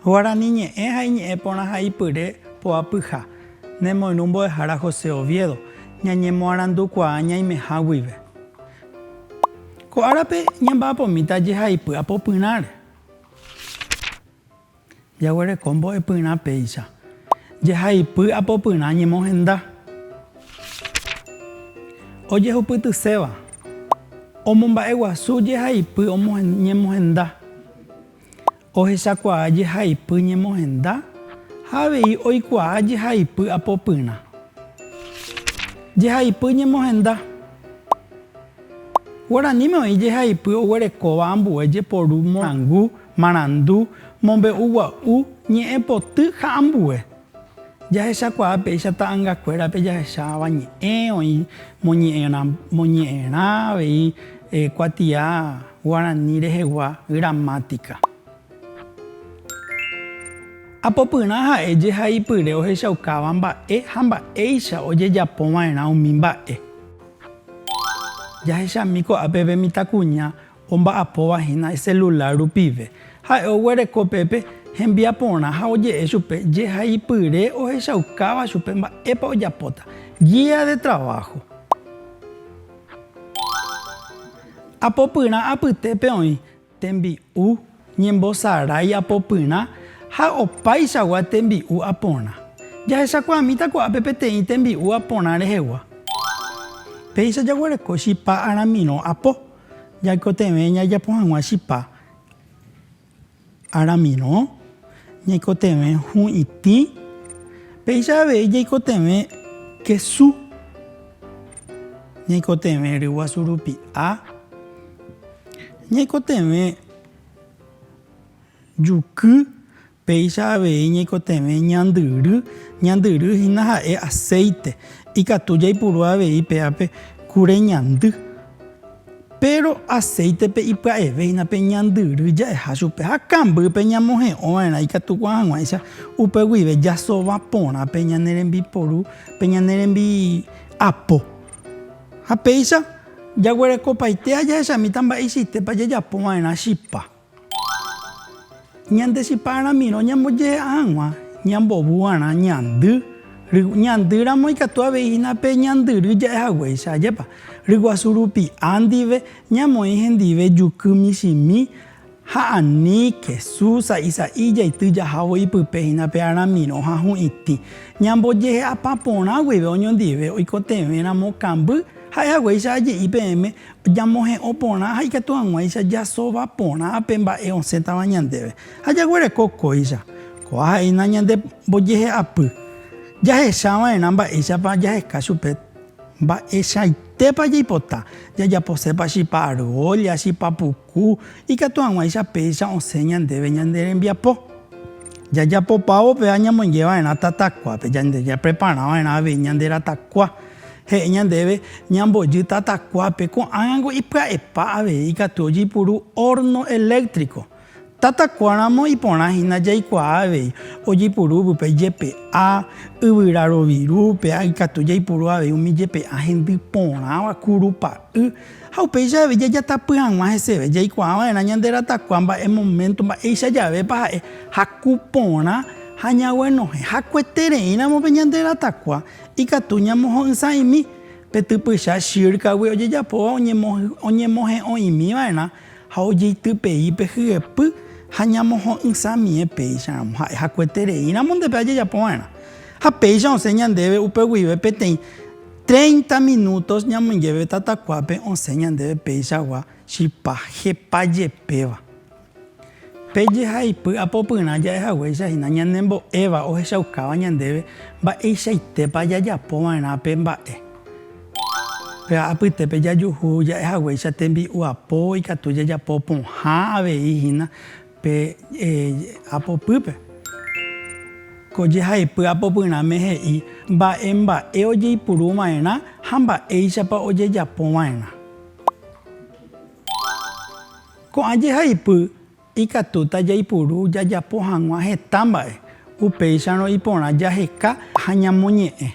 Guarani ñe'ẽ ha iñe'ẽ porã ha ipyre poapyha. Nemoirũ mbo'ehára José Oviedo, ñañemoarandukuaa ñaimeha guive. Ko árape ñamba'apomíta jehaipy apopyrãre. Jaguereko mbo'epyrã péicha. Jehaipy apopyrã ñemohenda. Ojehupytyséva. Omomba'eguasu jehaipy ñemohenda. ohechakuaa jehaipy ñemohenda ha avei oikuaa jehaipy apopyrã. Jehaipy ñemohenda. Guaraníme oĩ jehaipy oguerekóva ambue jeporu morangu, marandu, mombe'u gua'u, ñe'ẽpoty ha ambue. Jahechakuaa péicha ta'angakuérape jahecháva ñe'ẽ, oĩ moñe'ẽrã, moñe'ẽrã avei kuatia guarani rehegua gramática. Apopyrã ha'e jehaipyre ohechaukáva mba'e ha mba'éicha ojejapova'erã umi mba'e. Jahechami ko'ápe pe mitãkuña Omba'apóva hína iselulár rupive, ha'e oguereko pépe hembiaporã ha oje'e chupe jehaipyre ohechaukáva chupe mba'épa ojapóta. Guía de trabajo. Apopyrã apytépe oĩ tembi'u, ñembosarái apopyrã ha opaichagua tembi'u aporã. Jahechakuaamíta ko'ápe peteĩ tembi'u aporã rehegua. Péicha jaguereko chipa aramirõ apo. Jaikotevẽ jajapo hag̃ua chipa aramirõ, ñaikotevẽ hu'itĩ, péicha avei jaikotevẽ kesu, ñaikotevẽ ryguasu rupi'a, ñaikotevẽ juky, Péicha avei ñaikotevẽ ñandyry, ñandyry hína ha'e aséite, ikatu jaipuru avei péape kure ñandy. Péro aséitepe ipya'eve hína pe ñandyry ja'eha chupe ha kambýpe ñamohe'õ va'erã ikatu ko'ã hag̃uáicha upe guive jasova porã pe ñane rembiporu, pe ñane rembiapo. Ha péicha jaguerekopaite ha jahechamíta mba'eichaitépa jajapo va'erã chipa. Ñande chipa ramiro ñambojehe'a hag̃ua ñambovuarã ñandy, ñandy ramo ikatu avei hína pe ñandyry ja'e haguéicha, ajépa? Ryguasu rupi'a ndive ñamoĩ hendive juky michĩmi ha ani kesu sa'i sa'i jaity jahávo ipype hína pe aramirõ ha hu'itĩ. Ñambojehe'apa porã guive oñondive oikotevẽ ramo kamby, ha'e haguéicha aje'i peẽme Jamohe'õ porã ha ikatu hag̃uáicha jasóva porã pe mba'e osẽtava ñandéve, ha jaguereko kóicha. Kóva ha'éina ñande mbojehe'apy. Jahecha va'erã mba'éichapa jaheka chupe. Mba'eichaitépa jaipota, jajaposépa chipa argólla, chipa puku, ikatu hag̃uáicha péicha osẽ ñandéve ñande rembiapo. Jajapopávo upéva ñamoinge va'erã tatakuápe, jande japrepara va'erã avei ñande ratakua. He'i ñandéve ñambojy tatakuápe, ko'ág̃ango ipya'epa avei ikatu ojeipuru hórno eléktriko. Tatakuáramo iporã hína jaikuaa avei ojeipuru upépe ijepe'a, yvyra roviru, péa ikatu jaipuru avei umi ijepe'a hendy porãva, kurupa'y. Ha upéicha avei jajatapy hag̃ua heseve jaikuaa va'erã ñande ratakua mba'e moménto, mba'éicha javépa ha'e haku porã ha ñaguenohẽ hakuetereíramo pe ñande ratakua. Ikatu ñamoho'ysãimi pe typycha Shirkagui ojejapóva oñemohe'õimiva'erã ha ojeitypei pe hyepy ha ñamoho'ysãmie péicharamo ha'e hakuetereíramo nde pe ajejapova'erã. Ha péicha osẽ ñandéve upe guive peteĩ treinta minútos ñamoingéve tatakuápe osẽ ñandéve peichagua chipa jepajepéva. Pe jehaipy apopyrã ja'e haguéicha hína ñanembo'éva ohechaukáva ñandéve mba'eichaitépa jajapo va'erã pe mba'e. Péva apytépe jajuhu ja'e haguéicha tembi'u apo ikatu jajapo pohã avei hína pe apopýpe. Ko jehaipy apopyrãme he'i mba'e mba'e ojeipuru va'erã ha mba'éichapa ojejapo va'erã. Ko'ã jehaipy ikatúta jaipuru jajapo hag̃ua heta mba'e, upéicharõ iporã jaheka ha ñamoñe'ẽ.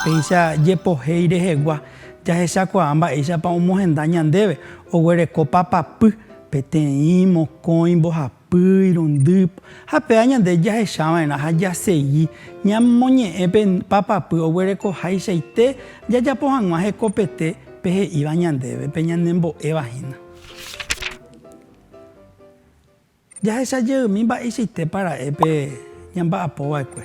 Péicha jepohéi rehegua, jahechakuaa mba'éichapa omohenda ñandéve, oguereko papapy, peteĩ, mokõi, mbohapy. Pýi, rundýp, ha péva ñande jahechava'erã ha jasegi ñamoñe'ẽ pe papapy oguerekoháichaite jajapo hag̃ua hekopete pe he'íva ñandéve, pe ñanembo'éva hína. Jahecha jeými mba'eichaitépa ra'e pe ñamba'apova'ekue.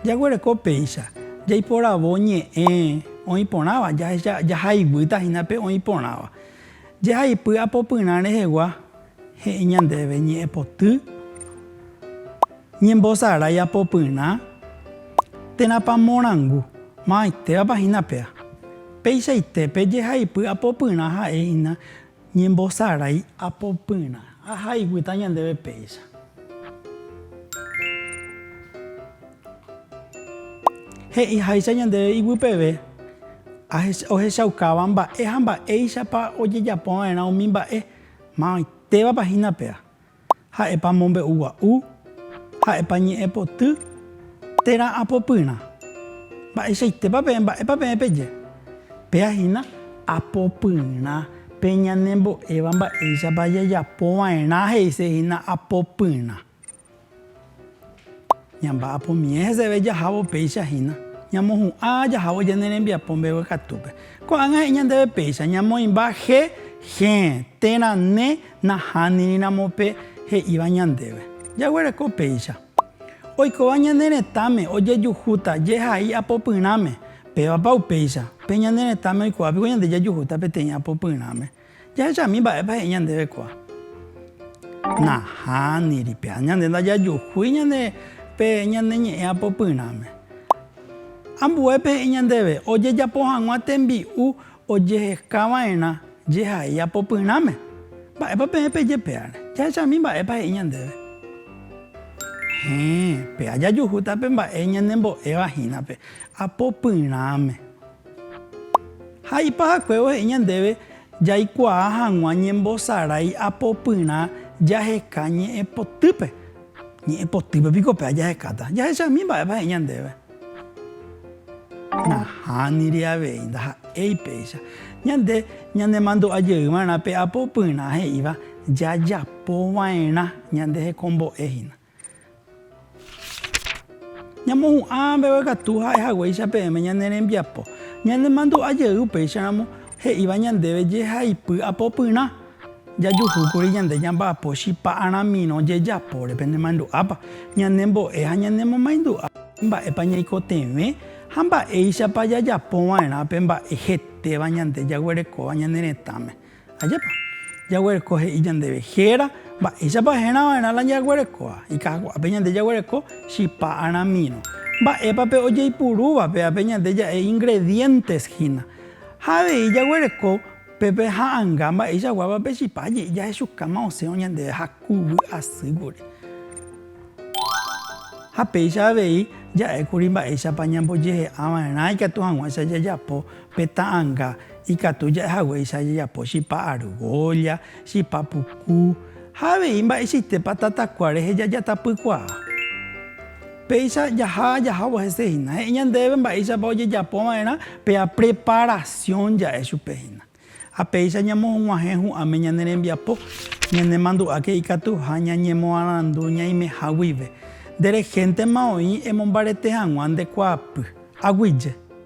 Jaguereko péicha jaiporavo ñe'ẽ oĩporãva, jahecha, jahayguýta hína pe oĩporãva. Jehaipy apopyrã rehegua he'i ñandéve ñe'ẽpoty, ñembosarái apopyrã, térãpa morangu, mavaitevapa hína péa. Peichaitépe jehaipy apopyrã ha'e hína ñembosarái apopyrã. Ha ha'ipyta ñandéve péicha. He'iháicha ñandéve iguipeve ohechaukáva mba'e ha mba'éichapa ojejapova'erã umi mba'e, mavaitevapa hína péva, ha'épa mombe'ugua'u, Ha'épa ñe'ẽpoty térã apopyrã? Mba'eichaitépa peẽ, mba'épa peẽ peje? Péa hína apopyrã pe ñanembo'éva mba'éichapa jajapo va'erã he'ise hína apopyrã. Ñamba'apomíe heseve jahávo péicha hína, ñamohu'ã jahávo ñane rembiapo mbegue katúpe. Ko'ág̃a he'i ñandéve péicha, ñamoĩmba je, jee, térã ne. Nahánirĩramo pe he'íva ñandéve, jaguereko péicha. Oikóva ñane retãme ojejuhúta jehai apopyrãme, pévapa upéicha? Pe ñane retãme oikuaa piko ñande jajuhúta peteĩ apopyrãme. Jahechami mba'épa he'i ñandéve kóa. Nahániri, péa ñande ndajajuhúi ñande pe ñane ñe'ẽ apopyrãme. Ambuépe he'i ñandéve, ojejapo hag̃ua tembi'u Ojehekava'erã jehai apopyrãme, mba'épa peẽ peje pévare, jahechami mba'épa he'i ñandéve. Héẽ, péva jajuhúta pe mba'e ñanembo'éva hínape apopyrãme. Ha ipahakuévo he'i ñandéve jaikuaa hag̃ua ñembosarái apopyrã jaheka ñe'ẽpotýpe. Ñe'ẽpotýpe piko péva jahekáta, jahechami mba'épa he'i ñandéve. Nahániri avei, ndaha'éi péicha. Ñande ñanemandu'a jey va'erã pe apo opyrã he'íva jajapo va'erã ñande hekombo'e hína. Ñamohu'ã mbeguekatu ha'e haguéicha peẽme ñane rembiapo. Ñanemandu'a jey upéicharamo he'íva ñandéve jehaipy apo opyrã. Jajuhúkuri ñande ñamba'apo chipa aramirõ jejapóre pende mandu'ápa ñanembo'e ha ñanemomaindu'a mba'épa ñaikotevẽ ha mba'éichapa jajapova'erã pe mba'e hetéva ñande jaguerekóva ñane retãme. Ajépa! Jaguereko he'i ñandéve héra mba'éichapa herava'erã la jaguerekóva. Ikakuaápe ñande jaguereko chipa aramirõ. Mba'épa pe ojeipurúva pévape ñande ja'e ingredientes hína. Ha avei jaguereko Pépe ha'anga mba'e jaguáva pe chipa je'i jahechukáma osẽ oñandeve ha kuvy asýguri. Ha péicha avei ja'ékuri mba'éichapa ñambojehe'ava'erã ikatu hag̃uáicha jajapo pe ta'anga, ikatu ja'e haguéicha jajapo chipa argólla, chipa puku ha avei mba'eichaitépa tatakua rehe jajatapykuaa. Péicha jaha jahávo hese hína. He'i ñandéve mba'éichapa ojejapo va'erã pe apreparasión ja'e chupe hína. Ha péicha ñamohuguãhẽ hu'ãme ñane rembiapo, ñanemandu'áke ikatuha ñañemoarandu ñaimeha guive. Nde rehéntema oĩ emombarete hag̃ua nde kuaapy. Aguyje.